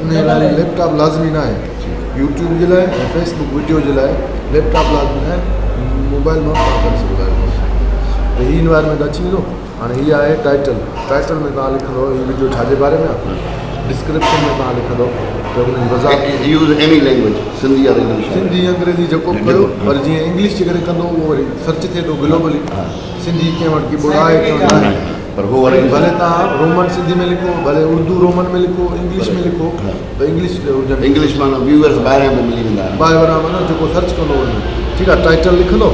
انهيء لاء laptop لازمي ناهي. يوٽيوب جي لاء ۽ فيس بڪ وڊيو جي لاء ليپ ٽاپ لازمي ناهي موبائل مان ڪم ڪري سگهندا آهيو ته هي انوائرمينٽ اچي ويندو هاڻي هي آهي ٽائٽل ٽائٽل ۾ توهان لکندو هي وڊيو ڇا جي باري ۾ آهي ڊسڪرپشن ۾ توهان لکندو ته ان جي وضاحت use any language Sindhi or English آهي سنڌي انگريزي جيڪو به ڪيو پر جيئن انگلش جي ڪري ڪندو اهو وري سرچ ٿئي ٿو گلوبلي سنڌي ڪنهن وٽ ڪي بورڊ آهي ڪي ناهي پر هو وري ڀلي توهان رومن سنڌي ۾ لکو ڀلي اردو رومن ۾ لکو انگلش ۾ لکو ته انگلش هجن انگلش معنيٰ ويوئرس ٻاهريان به ملي ويندا ٻاهريان معنيٰ جيڪو سرچ ڪندو وڃي ٺيڪ آهي ٽائيٽل لکندو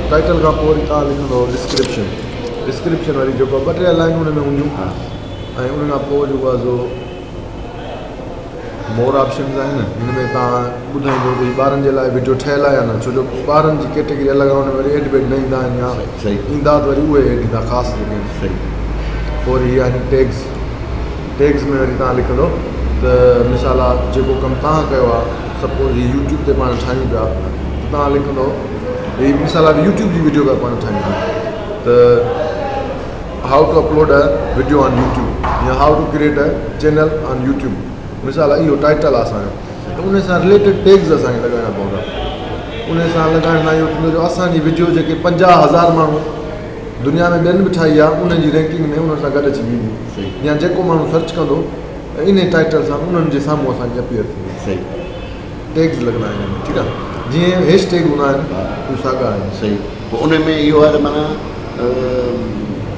ٽائيٽل کان پوء وري توهان لکندو ڊسڪرپشن ڊسڪرپشن واري جيڪو ٻه ٽي لائنون ان ۾ هونديون ۽ ان کان پوء جيڪو آهي سو مور آپشنز آهن هن ۾ توهان ٻڌائيندو ته هي ٻارن جي لاء وڊيو ٺهيل آهي يا نه ڇو جو ٻارن جي ڪيٽيگري الڳ آهي ان ۾ وري ايڊ بيڊ نه ايندا آهن يا ايندا ته وري اهي ايڊ ايندا خاص جيڪي آهن پوء وري هي آهن ٽيگز ٽيگز ۾ وري توهان لکندو ته مثال آ جيڪو ڪم توهان ڪيو آ سپوز هي يوٽيوب تي پاڻ ٺاهيون پيا ته توهان لکندو هي مثال آ يوٽيوب جي وڊيو پيا پاڻ ٺاهيون ته how to upload a video on YouTube يا how to create a channel on YouTube مثال اهو ٽائيٽل آهي اسان جو ته ان سان رليٽيڊ ٽيگز اسانکي لڳائڻا پوندا ان سان لڳائڻ سان اهو ٿيندو جو اسانجي وڊيو جيڪي پنجاهه هزار ماڻهو دنيا ۾ ٻين به ٺاهي آهي انهن جي رينڪنگ ۾ انهن سان گڏ اچي ويندي يا جيڪو ماڻهو سرچ ڪندو ته ان ٽائيٽل سان انهن جي سامهون اسانجي اپيئر ٿيندي صحيح ٽيگز لڳندا آهن ٺيڪ آهي جيئن هيش ٽيگ هوندا آهن اهي ساڳا آهن صحيح پوء انهي ۾ اهو آهي ته معنيٰ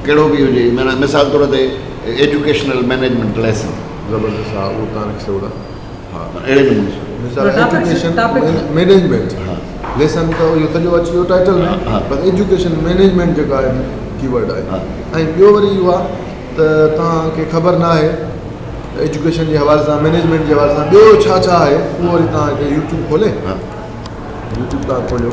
ڪهڙو به هجي معنيٰ مثال طور تي ايجوڪيشنل مينيجمينٽ ليسن. زبردست ها اهو تان رکي سگهو ٿا ها. اهڙي نموني سان. مثال ايجوڪيشن مينيجمينٽ ليسن ته اهو سڄو اچي ويو ٽائيٽل ۾ پر ايجوڪيشن مينيجمينٽ جيڪا آهي ڪي ورڊ آهي ۽ ٻيو وري اهو آهي ته توهان کي خبر نه آهي ته ايجوڪيشن جي حوالي سان مينيجمينٽ جي حوالي سان ٻيو ڇا ڇا آهي اهو وري توهان هتي يوٽيوب کولي يوٽيوب تان کوليو